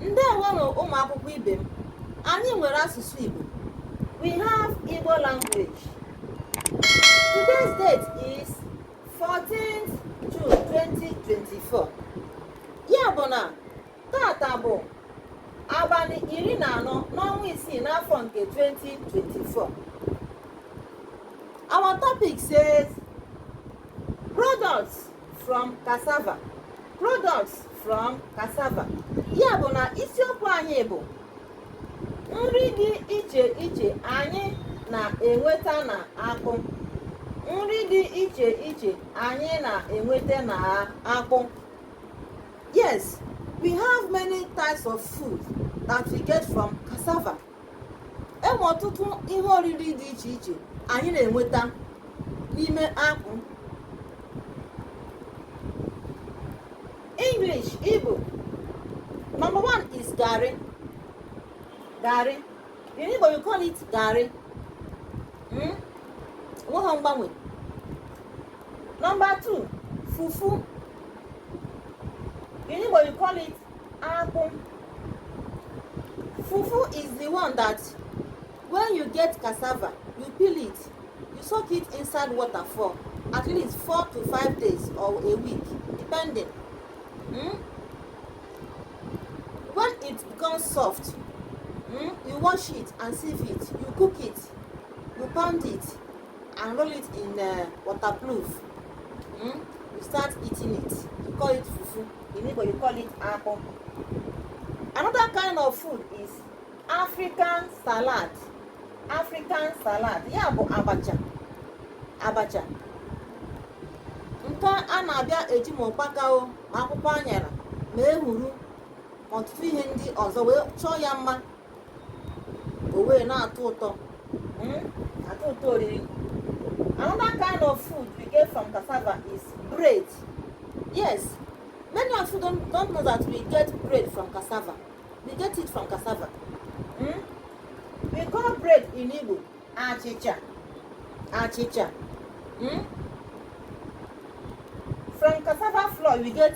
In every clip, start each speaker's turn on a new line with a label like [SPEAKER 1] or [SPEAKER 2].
[SPEAKER 1] ndewonụ ụmụ akwụkwọ ibe m anyị nwere asụsụ Igbo we have Igbo language today's date is 14th June 2024 ya bụ na taata bụ abalị iri na anọ n'ọnwa isii n'afọ nke 2024 our topic says products from cassava products from cassava ya bụ na isiokwu anyị bụ nri dị iche iche anyị na-enweta na akpụ nri dị iche iche anyị na-enweta na akpụ yes we have many types of food that we get from cassava enwe ọtụtụ ihe oriri dị iche iche anyị na-enweta n'ime akpụ English Igbo number one is garri garri in Igbo you call it garị hmm? enweghị mgbanwe number two fufu in Igbo you call it akpụ fufu is the one that when you get cassava you peel it you soak it inside water for at least four to five days or a week depending hmm? when it becomes soft hmm, you wash it and sieve it you cook it you pound it and roll it in uh, waterproof hmm? you start eating it you call it fufu in Igbo you call it akpụ another kind of food is African salad African salad ya bụ abacha abacha nke a na-abịa eji ma ụkpaka o ma akwụkwọ anyara ma ehuru ọtụtụ ihe ndị ọzọ wee chọọ ya mma o wee na-atọ ụtọ hmm? atọ ụtọ oriri another kind of food we get from cassava is bread yes many of you don't, don't know that we get bread from cassava we get it from cassava hmm? we call bread in Igbo achịcha achịcha hmm? from cassava flour we get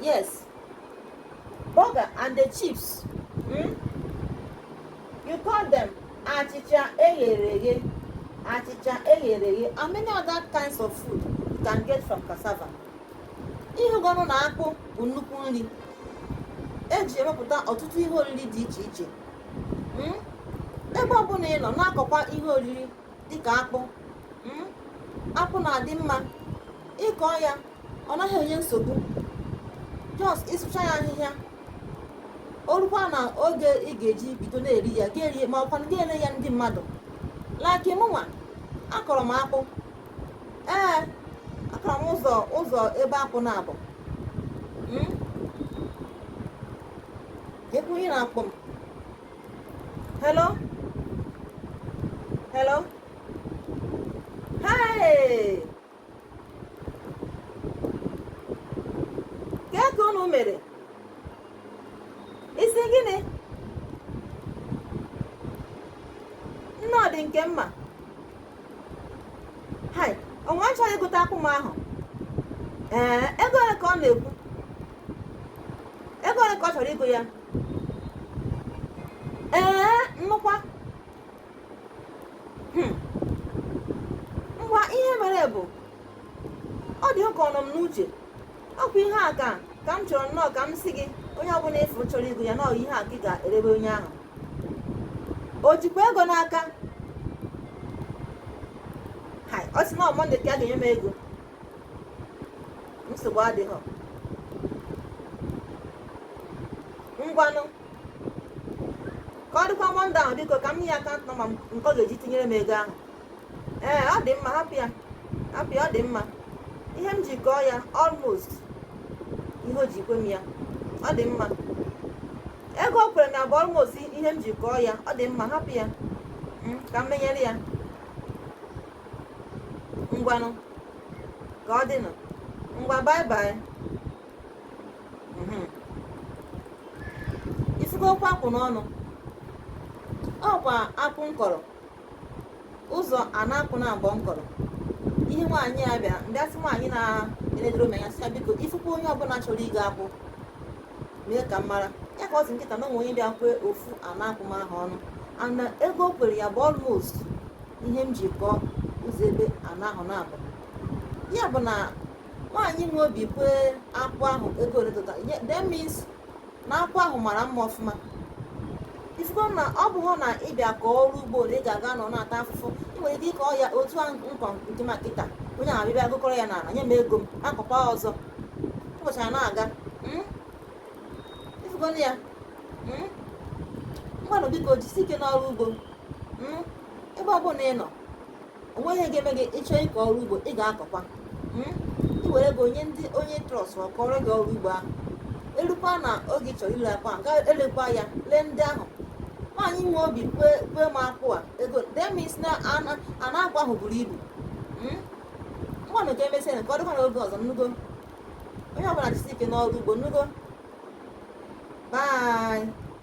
[SPEAKER 1] Yes. Burger and the chips. Hmm? You call them achịcha eghere eghe. Achịcha eghere eghe. And many other kinds of food you can get from cassava. Ị hụgonụ na akpụ bụ nnukwu nri. Eji emepụta ọtụtụ ihe oriri dị iche iche. Hmm? Ebe ọbụla ị nọ na-akọkwa ihe oriri dịka akpụ. Hmm? Akpụ na-adị mma ịkọ ya ọ naghị enye nsogbu just ịsụcha ya ahịhịa o rukwa na oge ị ga-eji bido na-eri ya ga-erie ma ọkwanụ ga-ere ya ndị mmadụ like mụnwa akọrọ m akpụ ee akọrọ m ụzọ ụzọ ebe akpụ naabọ hmm? ekwu ihe na-akpọ m hello hello hey kee ka unu mere ị sị gịnị nnọọ dị nke mma hai o nwe onye chọrọ igota akpụ m ahụ ee ego ole ka ọ na-ekwu ego ole ka ọ chọrọ igo ya ee nnukwa hmm. ngwa ihe mere bụ ọ dị ka ọ nọ m n'uche ọkwa ihe a ka ka m chọrọ nnọọ ka m si gị onye ọbụla ị fụ chọrọ igo ya na ọ ihe a ka ị ga-erebe onye ahụ o jikwa ego n'aka ọ sị na ọ mọnde ka a ga-enye m ego nsogbu adịghị ngwanụ ka ọ dịkwa mọnde ahụ biko ka m nye ya akant nọmba m nke ọ ga-eji tinyere m ego ahụ ee ọ dị mma hapụ ya hapụ ya ọ dị mma ihe m ji kọọ ya almost ihe o ji kwe m ya ọ dị mma ego o kwere m ya bụ almost ihe m ji kọọ ya ọ dị mma hapụ ya mm, ka m menyere ya ngwanụ ka ọ dịnụ ngwa bye bye mhm. ifugo okwu akpụ n'ọnụ ọkwa akpụ m kọrọ ụzọ ana akpụ naabọ m kọrọ ihe nwaanyị a bịa ndị asị nwaanyị na-enedoro m anya sị ya biko ifukwa onye ọbụla chọrọ igo akpụ mee ka m mara ya ka ọ sị m kịta na o nwe onye bịa kwee ofu ana akpụ m ahụ ọnụ na ego o kwere ya bụ almost ihe m ji kọọ ụzọ ebe ana ahụ naabọ ya bụ na nwaanyị nwe obi kwee akpụ ahụ ego ole etu a that means na akpụ ahụ mara mma ọfụma ifugo na ọ bụghị na ị bịa kọọ ọrụ ugbo ole ị ga-aga nọ na-ata afụfụ ị nwere ike ịkọ ya otu a m kọ nke m a kịta onye ahụ abịa gokọrọ ya n'ala nye m ego m akọkwa ọzọ ụbọchị a na-aga hmm? ifugo na ya hmm? ngwanụ biko jisi ike n'ọrụ ugbo hmm? ebe ọ bụla ị nọ o nweghị ihe ga-eme gị ị chọọ ịkọ ọrụ ugbo ị ga-akọkwa hmm? i nwere ike inye ndị onye trọst ma kọrọ gị ọrụ ugbo ahụ elukwa na oge ị chọrọ ile akpụ a ị ga-elekwa ya lee ndị ahụ nwaanyị nwe obi kwee m akpụ a ego that means na ana akpụ ahụ buru ibu hmm? ngwanụ ka emesịa ka ọ dịkwa na oge ọzọ ị nụgo onye ọbụla jisi ike n'ọrụ ugbo ị nụgo bye